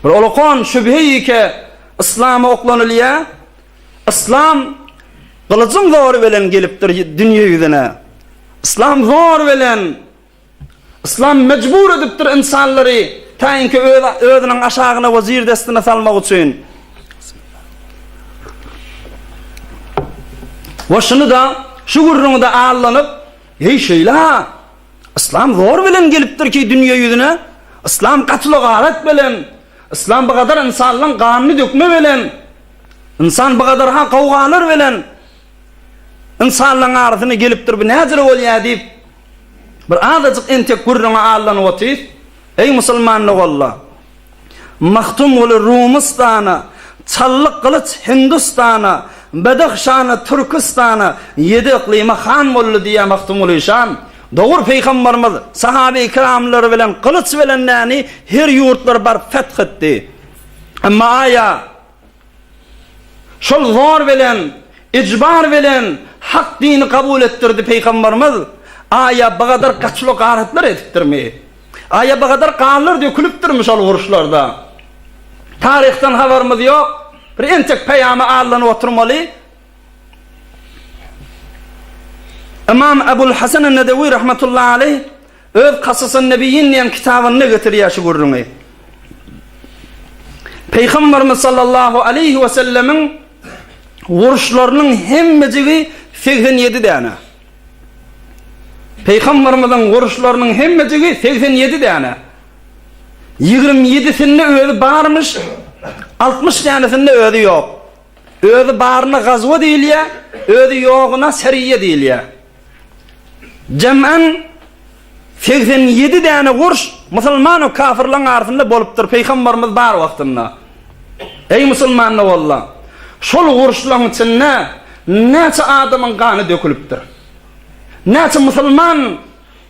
Bir olakan şübhe ýeke Yslama oklanylýar. Yslam gylyjyň zory bilen gelipdir dünýe ýüzüne. Yslam zor bilen Yslam mejbur edipdir ynsanlary taýynky özüniň aşagyna we jir destine salmak üçin. Başyny da şu gürrüňde allanyp, "Heý şeýle, Yslam zor bilen gelipdir ki dünýe ýüzüne, Yslam gatly garat belen, Yslam bu gadar ynsanlaň ganyny dökme belen, Ynsan bu gadar ha gawgalar belen, Ynsanlaň arasyna gelipdir bu nädir bolýa diýip bir azajyk entek gürrüňe allanyp otyrys. Eý musulman doganla! Magtymguly Rumystana, Çally Gylyç Hindistana, Bedahşana, Türkistana, Ýedi yklyma han boldy diýýär Magtymguly şan. Dogry Pygambarymyz sahabeýkiramlary bilen gylyç bilen näni her ýurtlary baryp feth etdi. Emma aýa. Şol zor bilen, ijbar bilen hak dini kabul etdirdi Peýgamberimiz. Aýa bu gadar gaçylo garatlar edipdirmi? Aýa bu gadar ganlar dökülipdirmi şol uruşlarda? Taryhdan habarymyz ýok. Bir entek peýamy allanyp oturmaly. Ymam Ebul Hasan en-Nedewi rahmetullahi aleýh Öz Kasas-an-Nebiyyin diýen kitabynda getirýär şu gürrüňi. Pygamberimiz sallallahu aleýhi we sellemiň uruşlarynyň hemmejigi segsen ýedi däne. Pygamberimiziň uruşlarynyň hemmejigi segsen ýedi däne. Ýigrimi ýedisinde özi barmyş, altmyş dänesinde özi ýok. Özi baryna gazwa diýilýär, özi ýogyna seriýe diýilýär. Jemän segsen ýedi däne gurş musulman we kafirleň arasynda bolupdyr Pygambarymyz bar wagtynda. Eý musulmanlar walla, şol gurşlaň içinde näçe adamyň gany dökülipdir? Näçe musulman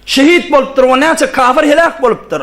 şehit bolupdyr we näçe kafir heläk bolupdyr?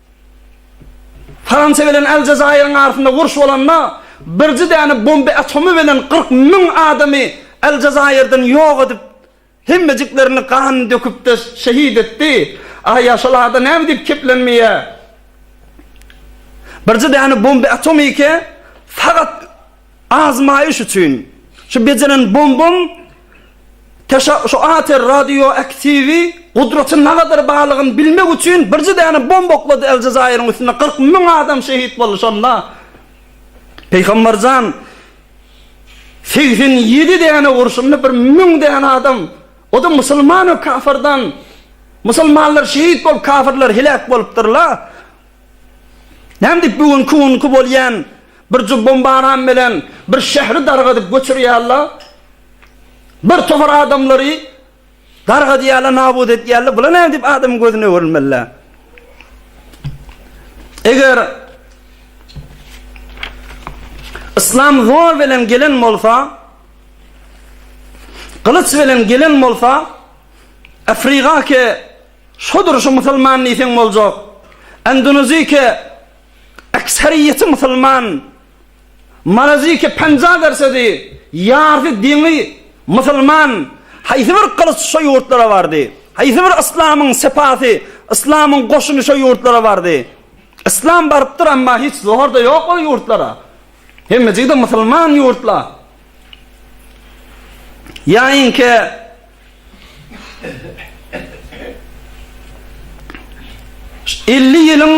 Fransiýa bilen Aljezairiň arasynda uruş bolanda, birji däne bomba atomy bilen kyrk müň adamy Aljezairden ýok edip, hemmejiklerini gan döküp-de şehit etdi. Aý, ýaşul ada näme diýip keplenmeýär? Birji däne bomba atomy eke, sagat. Azmaýyş üçin şu bejeren bombam teşa şu ater radioaktiwi gudraty nagadyr balygyny bilmek üçin birje däne bomba oklady Eljezaýryň üstüne kyrk müň adam şehit boldy şonda Peýgamberjan segsen ýedi däne urşunda bir müň däne adam o-da musulman we kafirdan musulmanlar şehit bolup kafirler heläk bolupdyrlar näme diýip bu günki günki bolýan Bir jup bombaram bilen bir şäheri dargadyp göçürýärler. Bir topar adamlary dargadýarlar, nabut edýärler. Bula näme diýip adamyň gözüne öwrülmeliler? Eger Islam zor bilen gelen bolsa, gylyç bilen gelen bolsa, Afrika ke şodur şu musulman diýseň boljak. Endonezike Ekseriyeti musulman. Malaziki penja gersedi, ýarty deňi musulman. Haýsy bir gylyç şo ýurtlara bardy? Haýsy bir yslamyň sepasy, yslamyň goşuny şo ýurtlara bardy? Yslam barypdyr, emma hiç zohar-da ýok ol ýurtlara. Hemmejigi-de musulman ýurtla. Ýaýyňky Elli ýylyň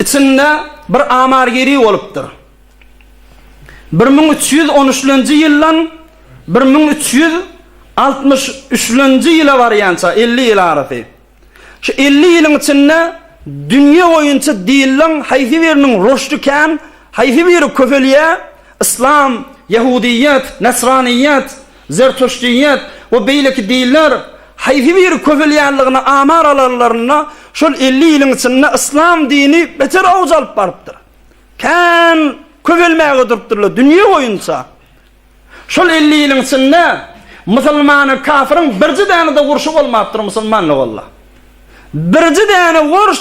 içinde bir amargeri bolupdyr. Bir müň üç ýüz on üçlenji ýyldan bir müň üç ýüz altmyş üçlenji ýyla barýança elli ýyl arasy. Şu elli ýylyň içinde dünýe boýunça dilleň haýsy biriniň rüşdi kän, haýsy biri köpelýär, yslam, ýahudyýet, näsranyýet, zertuşdyýet we beýleki diller haýsy biri köpelýänligine amar alanlarynda, şol elli ýylyň içinde yslam dini beter awj alyp barypdyr. Kän köpelmäge durupdyrlar dünýe boýunça. Şol elli ýylyň içinde musulmanyň kafiryň birji däne-de urşy bolmapdyr musulmanla walla. Birji däne uruş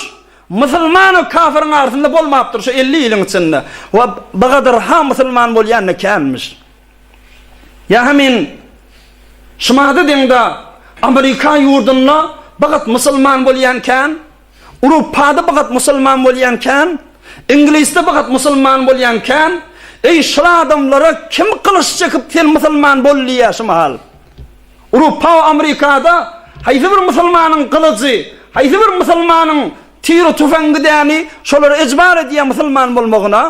musulmanyň kafiryň arasynda bolmapdyr şu elli ýylyň içinde. Wa bu gadar ha musulman bolýan-da känmiş. Ýa ha men şumada deň-da Amerika ýurdunda bu gat musulman bolýan kän. Urupada bir gat musulman bolýan kän, Iňlisde bir gat musulman bolýan kän, eý şul adamlara kim gylyç çekip sen musulman bol diýýär şu mahal? Urupa we Amerikada haýsy bir musulmanyň gylyjy, haýsy bir musulmanyň tiri-tüfeňgi däni şolar ejbar edýär musulman bolmagyna?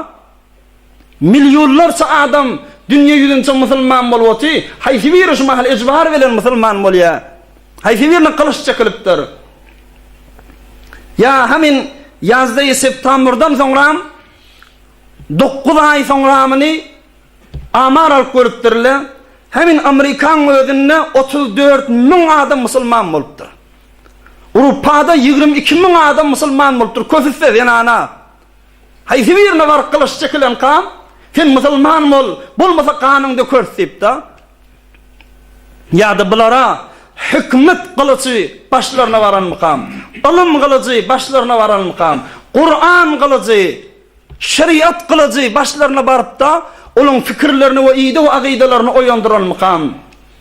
Millionlarça adam dünýe ýüzünçe musulman bolup oty, haýsy biri şu mahal ejbar bilen musulman bolýa? Haýsy birine gylyç çekilipdir? Ýa hamin ýazdaýy septambrdan soňram dokuz aý soňramyny amar alyp görüpdirle, hamin Amrikanyň özünde otuz dört müň adam musulman bolupdyr. Urupada ýigrimi iki müň adam musulman bolupdyr, köpüsi-de zenana. Haýsy birine baryp gylyç çekilenkam, Sen musulman bol, bolmasa ganyň dökeris diýipdi. Ýa-da bulara hikmet gylyjy başlaryna baranmykam, ylym gylyjy başlaryna baranmykam, Kuran gylyjy, şeriat gylyjy başlaryna baryp-da, olaryň pikirlerini we ideg-agydalaryny oýandyranmykam?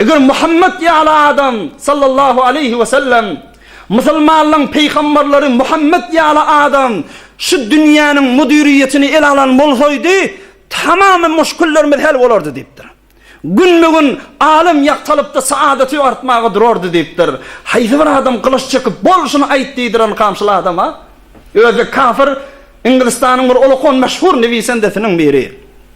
Eger Muhammet ýaly adam, sallallahu aleýhi we sellem, musulmanlaryň pygamberleri Muhammet ýaly adam şu dünýäniň müdiriýetini ele alan bolsaýdy, tamamy muşkillerimiz hel bolardy diýipdir. Günbe-gün alem ýagtalypdy, saadaty artmaga durardy diýipdir. Haýsy bir adam gylyç çekip, bol şuny aýt diýdiren kamçyl adama? Özi kafir, Inglistanyň bir olakan meşhur newisendesiniň biri.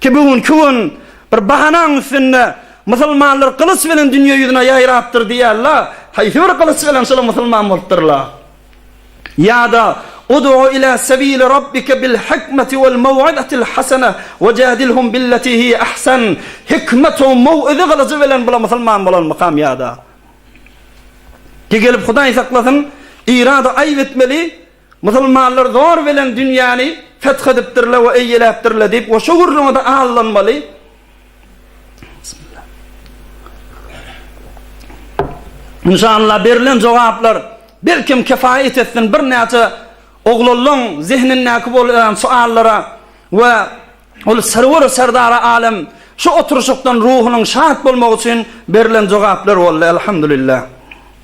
Ki bu günki gün bir bahanaň üstünde musulmanlar gylyç bilen dünýe ýüzüne ýaýrapdyr diýýärler, haýsy bir gylyç bilen şolar musulman bolupdyrlar? Ýa-da Udu ila sebili Rabbike bil hikmeti wel mew'izatil hasene we jadilhum billeti hiýe ahsen, hikmet we mew'iza gylyjy bilen bular musulman bolanmykam ýa-da? Ki gelip Hudaý saklasyn, Irada aýyp etmeli, Musulmanlar zor bilen dünýäni feth edipdirler we eýeläpdirler diýip goşa gürrüňi-de aldanmaly. Inşallah berilen jogaplar belkem kefaýet etsin birnäçe oglanlaň zehnindäki bolan suallara we ol serwer serdara alem şu oturyşykdan ruhunyň şat bolmagy üçin berilen jogaplar boldy. Elhamdülillah.